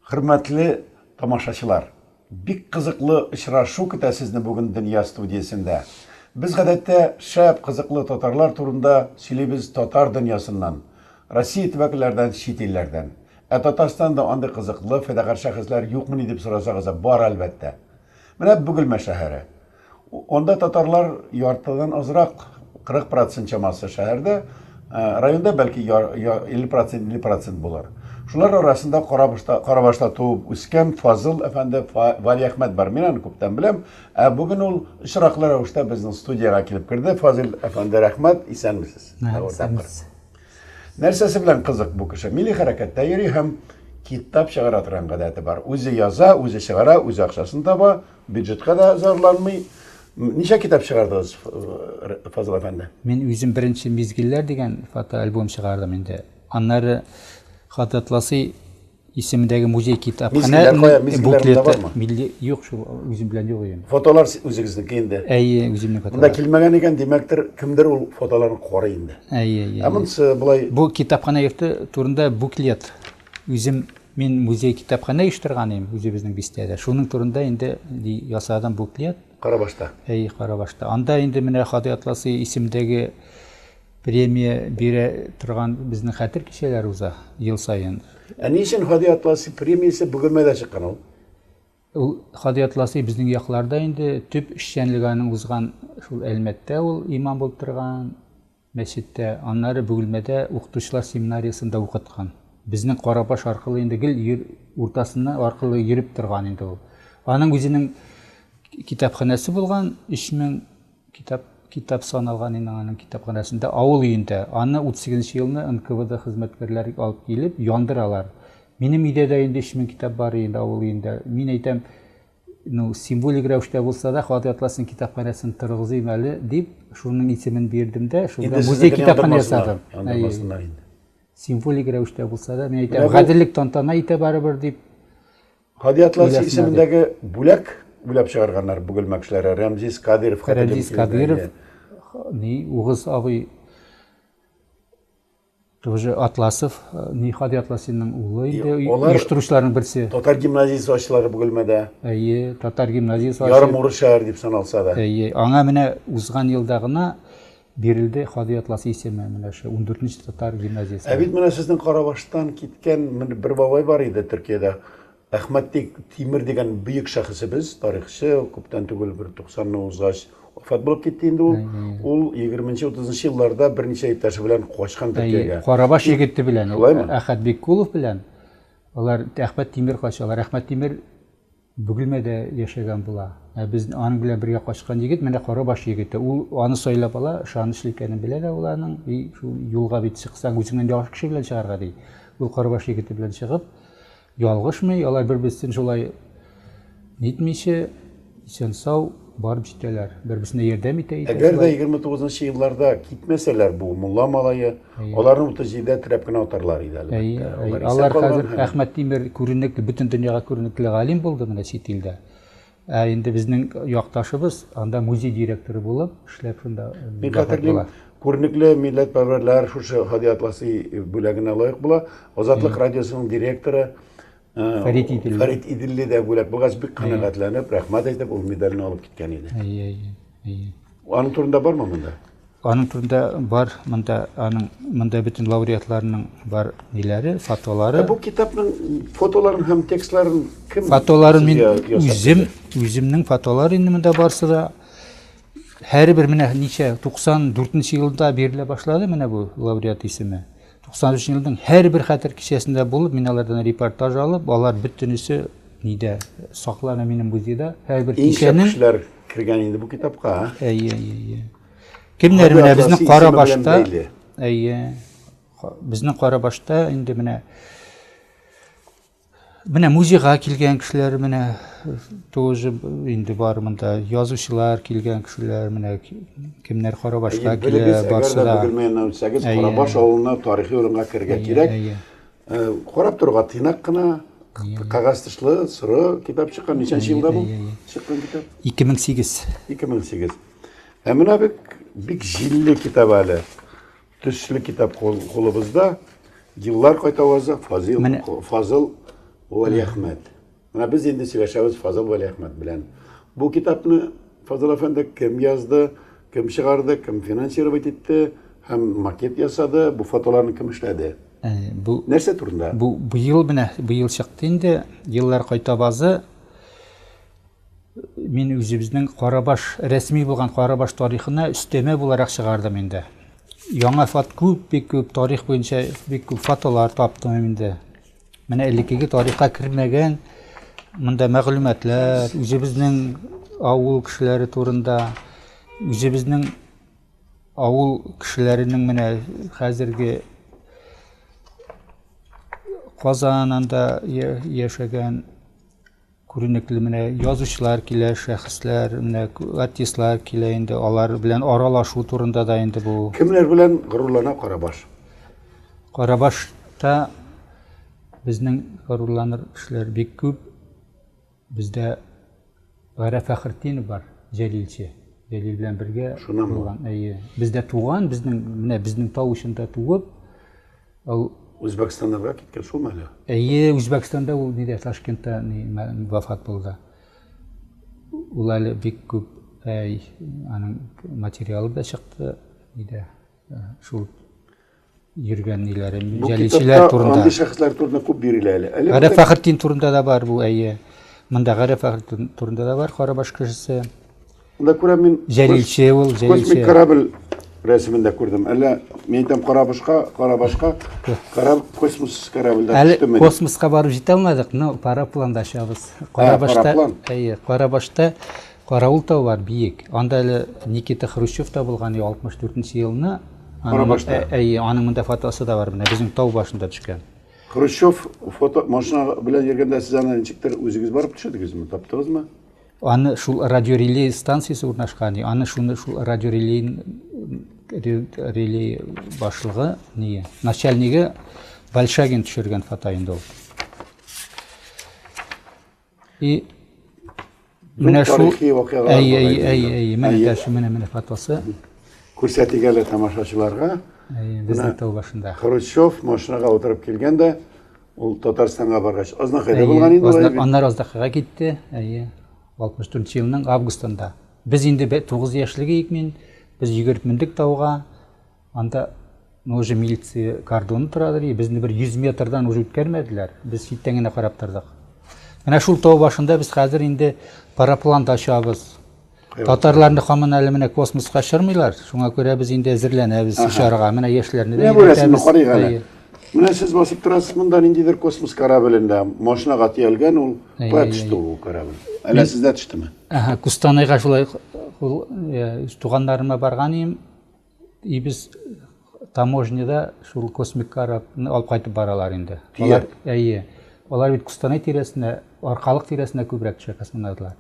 Хөрмәтле тамашачылар, бик кызыклы очрашу көтә сезне бүген Дөнья студиясендә. Без гадәттә шәп кызыклы татарлар турында сөйлибез татар дөньясыннан, Россия төбәкләрдән, чит илләрдән. Ә Татарстанда андый кызыклы, файдагар шәхесләр юкмыни дип сорасагыз, бар, әлбәттә. Менә Бөгелмә шәһәре. Анда татарлар яртыдан азрак, 40 процент чамасы шәһәрдә, районда бәлки 50 процент, 50 процент булыр. Шулар арасында Карабашта, Карабашта туып үскән Фазыл әфәнде Валиәхмәт бар. Мин аны күптән беләм. Ә бүген ул очраклы рәвештә безнең студиягә килеп керде. Фазил әфәнде, рәхмәт, исәнмесез. Исәнмесез. Нәрсәсе белән кызык бу кеше? Милли хәрәкәттә йөри һәм китап чыгара торган гадәте бар. Үзе яза, үзе чыгара, үзе акчасын таба, бюджетка да зарланмый. Ничә китап чыгардыгыз, Фазыл әфәнде? Мин үзем беренче мизгелләр дигән фотоальбом чыгардым инде. Аннары Хататласый Исемдәге музей китап. Мизгелләр кая? Мизгелләр монда бармы? Милли юк шул, үзем белән юк өем. Фотолар үзегезнеке инде. Әйе, үземнең фотолар. Монда килмәгән икән, димәктер, кемдер ул фотоларны карый инде. Әйе, әйе. Ә монысы болай. Бу китапханә йорты турында буклет. Үзем мин музей китапханә оештырган идем үзебезнең бистәдә. Шуның турында инде ясадым буклет. Карабашта. Әйе, Карабашта. Анда инде менә Хадый Атласы исемдәге премия бирә торган безнең хәтер кичәләре уза ел саен. Ә ни өчен Хадый Атласы премиясе Бөгелмәдә чыккан ул? Ул Хадый Атласы безнең якларда инде төп эшчәнлеге аның узган шул Әлмәттә ул имам булып торган, мәчеттә, аннары Бөгелмәдә укытучылар семинариясендә укыткан. Безнең Карабаш аркылы инде гел йөр, уртасыннан аркылы йөреп торган инде ул. Аның үзенең китапханәсе булган, 3000 китап китап саналган инде аның китапханәсендә, авыл өендә. Аны 38 нче елны НКВД хезмәткәрләре алып килеп яндыралар. Минем өйдә дә инде 3000 китап бар инде авыл өендә. Мин әйтәм, Ну, символик рәвештә булса да, Хатый Атласның китапханәсен торгызыйм әле, дип, шуның исемен бирдем дә, шунда музей китапханә ясадым. Яндырмасыннар инде. Символик рәвештә булса да, мин әйтәм, гаделлек тантана итә барыбер, дип. Хатый Атлас исемендәге бүләк уйлап чыгарганнар Бөгелмә кешеләре. Рәмзис Кадиров хәтерлим. Рәмзис Кадиров, ни, Угыз абый Тоже Атласов, Нихади Атласинның улы инде, оештыручыларның берсе. Татар гимназиясе ачылар бу гөлмәдә. Әйе, татар гимназиясе ачылар. Ярым урыс шәһәр дип саналса да. Әйе, аңа менә узган елда гына бирелде Хади Атлас исеме менә шу 14 татар гимназиясе. Ә бит менә сезнең Карабаштан киткән бер бабай бар иде Төркиядә. Әхмәт Тимер дигән бөек шәхесебез, тарихчы, күптән түгел, бер 90-ны узгач, вафат булып китте инде ул. Ул 20-30 елларда берничә иптәше белән качкан Төркиягә. Карабаш егете белән, Әхәт Биккулов белән алар Әхмәт Тимер качалар. Әхмәт Тимер Бөгелмәдә яшәгән була. Ә без аның белән бергә качкан егет менә Карабаш егете. Ул аны сайлап ала, ышанычлы икәнен белә дә ул аның. И шул юлга бит чыксаң, үзеңнән яхшы кеше белән чыгарга ди. Ул Карабаш егете белән чыгып, Ялгышмый, алар бер-берсен шулай нитмичә, исән-сау барып җитәләр. Бер-берсенә ярдәм итә икән шулай. Әгәр дә егерме тугызынчы елларда китмәсәләр бу мулла малае, аларны утыз җидедә терәп кенә атарлар иде, әлбәттә. Әйе, әйе. Алар хәзер Әхмәт Тимер күренекле, бөтен дөньяга күренекле галим булды менә чит илдә. Ә инде безнең якташыбыз анда музей директоры булып эшләп шунда. Мин хәтерлим, күренекле милләтпәрвәрләр шушы Һади Атласи бүләгенә лаек була. Азатлык радиосының директоры Фәрит Иделли. Фәрит Иделли дә бүләк булгач бик канәгатьләнеп, рәхмәт әйтеп, ул медальне алып киткән иде. Әйе, әйе. Аның турында бармы монда? Аның турында бар монда аның монда бөтен лауреатларның бар ниләре, фотолары. Бу китапның фотоларын һәм текстларын кем? Фотоларын мин үзем, үземнең фотолар инде монда барсы да һәрбер менә ничә 94 елда бирелә башлады менә бу лауреат исеме. 93 елның һәрбер хәтер кичәсендә булып, мин алардан репортаж алып, алар бөтенесе нидә саклана минем музейда. Һәрбер кичәнең кешеләр кергән инде бу китапка. Әйе, әйе, әйе. Кемнәр менә безнең кара башта? Әйе. Безнең кара башта инде менә менә музейга килгән кешеләр менә тоже инде бар монда язучылар килгән кешеләр менә кемнәр кара башка килә барса да белмәеннән үтсәгез карабаш авылына тарихи урынга керергә кирәк карап торуга тыйнак кына кәгазь тышлы соры китап чыккан ничәнче елда бу чыккан китап ике мең сигез ике мең сигез Ә менә бик, бик җилле китап әле. Төсле китап кулыбызда. Еллар кайта ваза Фазил, Мен... Фазыл Вәлиәхмәт. Менә без инде сөйләшәбез Фазыл Вәлиәхмәт белән. Бу китапны Фазыл әфәнде кем язды, кем чыгарды, кем финансировать итте һәм макет ясады, бу фотоларны кем эшләде? Ә, бу Нәрсә турында? Бу быел менә быел чыкты инде. Еллар кайта вазы Мин үзебезнең Карабаш, рәсми булган Карабаш тарихына өстәмә буларак чыгардым инде. Яңа фат күп, бик күп тарих буенча бик күп фотолар таптым инде. Менә элеккеге тарихка кермәгән монда мәгълүматлар, үзебезнең авыл кешеләре турында, үзебезнең авыл кешеләренең менә хәзерге Казанында яшәгән Күренекле менә язучылар килә, шәхесләр, менә артистлар килә инде, алар белән аралашу турында да инде бу. Кемнәр белән горурлана Карабаш? Карабашта безнең горурланыр кешеләр бик күп. Бездә Гәрә Фәхретдинов бар, Җәлилче. Җәлил белән бергә Шунамы? булган. Әйе. Бездә туган, безнең, менә безнең тау эчендә туып, Ул Үзбәкстаннарга киткән шулмы әле? Әйе, Үзбәкстанда ул нидә Ташкентта ни вафат булды. Ул әле бик күп әй аның материалы да чыкты нидә шул йөргән ниләре җәлилчеләр турында. Андый шәхесләр турында күп бирелә әле. Әле Гариф Фәхретдин турында да бар бу әйе. Монда Гариф Фәхретдин турында да бар, Карабаш кешесе. Анда күрәм мин. Җәлилче ул, җәлилче. Космик корабль рәсемендә күрдем. Әллә мин әйтәм карабашка, карабашка, караб космос корабльдә төштеме? Әле космоска барып җитә алмадык, но парапланда очабыз. Карабашта, әйе, Карабашта Караул тау бар, биек. Анда әле Никита Хрущев та булган, 64 елны. Карабашта. Әйе, аның монда фотосы да бар, менә безнең тау башында төшкән. Хрущев фото машина белән йөргәндә сез аны ничектер үзегез барып төшердегезме, таптыгызмы? Аны шул радиорелей станциясе урнашкан, аны шуны шул радиорелей релей башлыгы, не, начальнигы Большагин төшергән фото инде ул. И менә шул әй әй әй әй менә дәш менә менә фотосы. Күрсәтик әле тамашачыларга. Әй, без тау башында. Хрущев машинага утырып килгән дә Ул Татарстанга баргач, Азнакайда булган инде алай бит. Аннары Азнакайга китте, әйе. 64 елның августында. Без инде 9 яшьлек идек мин, без йөгереп мендек тауга. Анда ну уже милиция кордоны тора ди, безне бер 100 метрдан уже үткәрмәделәр. Без читтән генә карап тордык. Менә шул тау башында без хәзер инде парапланда очабыз. Татарларны хамын әле менә космоска чырмыйлар. Шуңа күрә без инде әзерләнәбез чарга. Менә яшьләрне дә өйрәтәбез. Менә сез басып торасыз монда ниндидер космос кораблендә. Машинага төялгән ул. Кая төште ул корабль? Әллә сездә төштеме? Ага, Кустанайга шулай туганнарыма барган идем. И без таможняда шул космик корабны алып кайтып баралар инде. Алар, әйе. Алар бит Кустанай тирәсенә, Аркалык тирәсенә күбрәк төшә космонавтлар.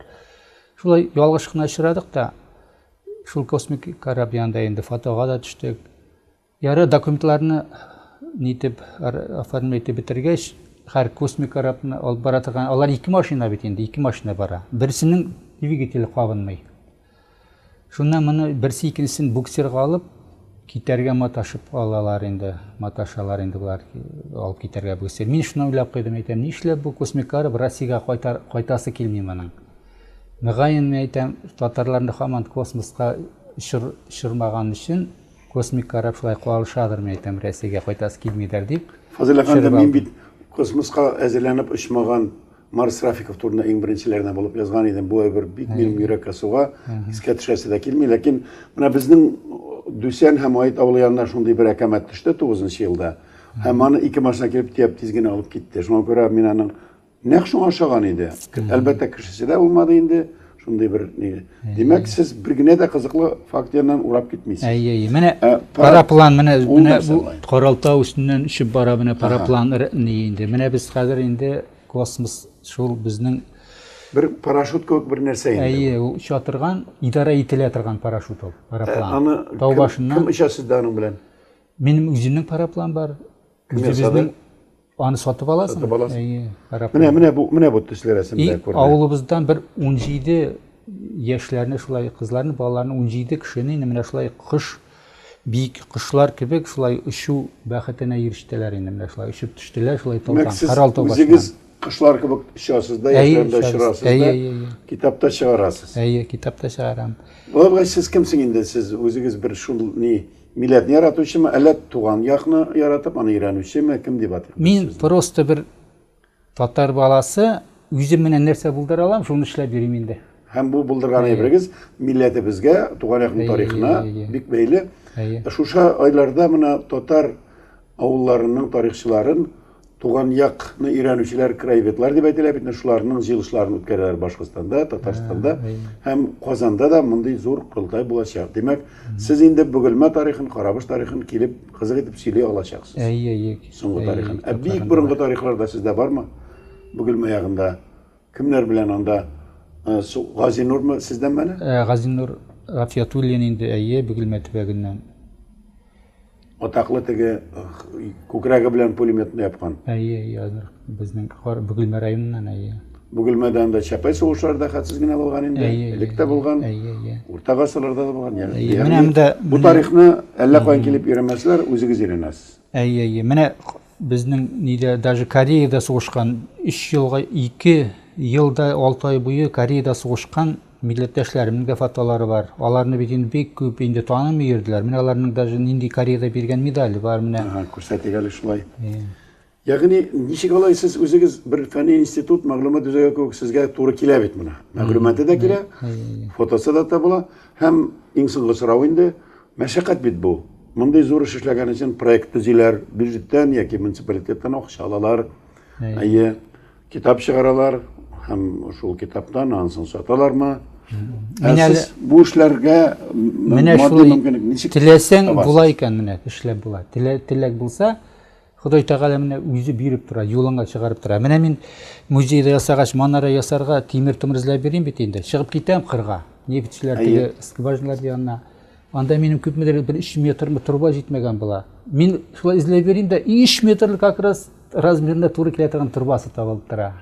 Шулай ялгыш кына очрадык та, шул космик кораб янында инде фотога да төштек. Яры документларны нитеп оформлять итеп бетергәч, хәр космик корабны алып бара торган, алар ике машина бит инде, ике машина бара. Берсенең двигателе кабынмый. Шуннан моны берсе икенчесен буксирга алып, китәргә маташып алалар инде, маташалар инде болар, алып китәргә буксир. Мин шуны уйлап куйдым, әйтәм, нишләп бу Космикаров Россиягә кайтар, кайтасы килми моның? Мөгаен, мин әйтәм, татарларны хаман космоска очыр, очырмаган өчен Космикаров шулай калышадыр, мин әйтәм, Россиягә кайтасы килмидер дип. Фазил әфәнде, мин бит космоска әзерләнеп очмаган Марс Рафиков турында иң беренчеләрдән булып язган идем. Бу әйбер бик минем йөрәккә суга, искә төшәсе дә килми. Ләкин менә безнең Дүсән һәм Аит авылы янына шундый бер әкәмәт төште 9 нчы елда. Һәм аны ике машина килеп тияп тиз генә алып китте. Шуңа күрә мин аның нәкъ шуңа ошаган иде. Әлбәттә, кешесе дә булмады инде. Шундый бер ни. Димәк, сез бер генә дә кызыклы факт яныннан урап китмисез. Әйе, әйе. Менә ә, параплан менә менә бу Каралтау өстеннән очып бара менә параплан ни инде. Менә без хәзер инде космос шул безнең бер парашют кебек бер нәрсә инде. Әйе, ул оча торган, идарә ителә торган парашют ул, параплан. Ә, аны тау башыннан. Кем оча сездә аның белән? Минем үземнең параплан бар. Үзебезнең аны сатып аласың. Сатып аласың. Әйе, рәхмәт. Менә менә бу менә бу төсле рәсемдә күрде. Авылыбыздан бер 17 яшьләрне шулай кызларны, балаларны 17 кешене инде менә шулай кош бик кошлар кебек шулай очу бәхетенә ирештеләр инде менә шулай очып төштеләр шулай таудан Карал тау үзегез кошлар кебек очасыз да яшьләрдә очырасыз да әйе әйе китапта чыгарасыз әйе китапта чыгарам Бабай сез кемсең инде сез үзегез бер шул ни Милләтне яратучымы, әллә туган якны яратып, аны өйрәнүчеме, кем дип атыйк без сезне? Мин просто бер татар баласы, үзем менә нәрсә булдыра алам, шуны эшләп йөрим инде. Һәм бу булдырган әйберегез милләтебезгә, туган якның тарихына бик бәйле. Шушы айларда менә татар Авылларының тарихчыларын туган як ны өйрәнүчеләр краеведлар дип әйтелә бит шуларның җыелышларын үткәрәләр башкортстанда татарстанда һәм казанда да мондый зур корылтай булачак димәк сез инде бөгелмә тарихын карабаш тарихын килеп кызык итеп сөйли алачаксыз әйе әйе соңгы тарихын ә бик борынгы тарихларда сездә бармы бөгелмә ягында Кемнәр белән анда? Э, Газинурмы сездән мәне? Э, Газинур Гафиятуллин инде, әйе, Бөгелмә төбәгеннән. Атаклы теге күкрәге белән пулеметны япкан. Әйе, ядыр. Безнең Бөгелмә районыннан, әйе. Бөгелмәдә анда Чапай сугышларда хәтсез генә булган инде. Элек тә булган. Урта гасырларда да булган. Ягъни бу тарихны әллә каян килеп өйрәнмәсләр, үзегез өйрәнәсез. Әйе, әйе. Менә Безнең нидә даже Кореяда сугышкан 3 елга 2 елда 6 ай буе Кореяда сугышкан милләттәшләремнең дә фотолары бар. Аларны бит инде бик күп инде танымый йөрделәр. Менә аларның даже нинди Кореяда биргән медале бар менә. Ага, күрсәтик әле шулай. Ягъни ничек алай сез үзегез бер фәнни институт мәгълүмат үзәге кебек сезгә туры килә бит менә. Мәгълүматы да килә, фотосы да табыла. Һәм, иң соңгы сорау инде, мәшәкать бит бу. Мондый зур эш эшләгән өчен проект төзиләр, бюджеттан яки муниципалитеттан акча алалар. Әйе, китап чыгаралар һәм шул китаптан ансын саталармы? Менә әле бу эшләргә менә шулай теләсәң була икән менә эшләп була. Теләк булса, Ходай Тәгалә менә үзе биреп тора, юлыңа чыгарып тора. Менә мин музейда ясагач, манара ясарга тимер-томыр эзләп йөрим бит инде. Чыгып китәм кырга, нефтьчеләр теге скважиналар янына. Анда минем күпмедер бер 3 метрмы труба җитмәгән була. Мин шулай эзләп йөрим дә 3 метрлы как раз размерына туры килә торган трубасы табылып тора.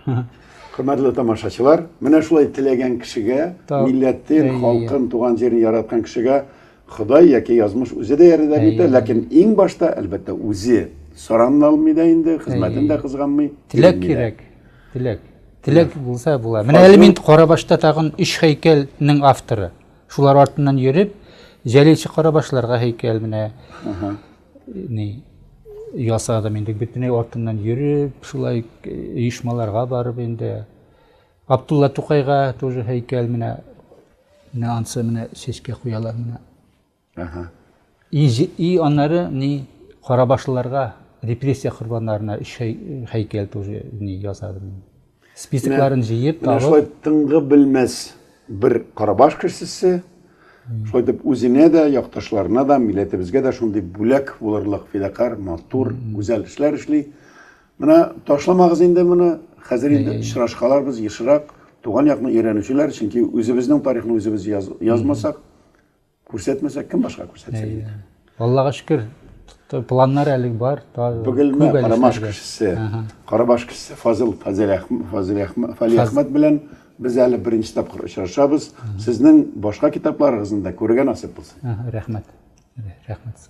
Хөрмәтле тамашачылар, менә шулай теләгән кешегә, милләтен, халкын, туган җирен яраткан кешегә Ходай яки язмыш үзе дә ярдәм итә, ләкин иң башта, әлбәттә, үзе соран алмый да инде, хезмәтен дә кызганмый. Теләк кирәк, теләк. Теләк булса була. Менә әле мин Карабашта тагын өч һәйкәлнең авторы. Шулар артыннан йөреп, Җәлилче Карабашларга һәйкәл менә ни ясадым инде. Бөтенләй артыннан йөреп, шулай оешмаларга барып инде. Абдулла Тукайга тоже һәйкәл менә менә ансы менә чәчкә куялар менә. Ага. И, и аннары ни карабашлыларга репрессия корбаннарына өч һәйкәл тоже ни ясадым. Списокларын җыеп табып. Шулай тыңгы белмәс бер карабаш кешесе шулай итеп үзенә дә, якташларына да, милләтебезгә дә шундый бүләк булырлык фидакарь, матур, гүзәл эшләр эшли. Менә ташламагыз инде моны. Хәзер инде очрашкаларбыз ешрак. Туган якны өйрәнүчеләр, чөнки үзебезнең тарихны үзебез яз, язмасак, күрсәтмәсәк, кем башка күрсәтсен инде. Аллага шөкер, планнар әле бар. Бөгелмә Карабаш кешесе, Карабаш кешесе Фазыл Фазил Әхмәт белән без әле беренче тапкыр очрашабыз. Сезнең башка китапларыгызны да күрергә насыйп булсын. Рәхмәт. Рәхмәт.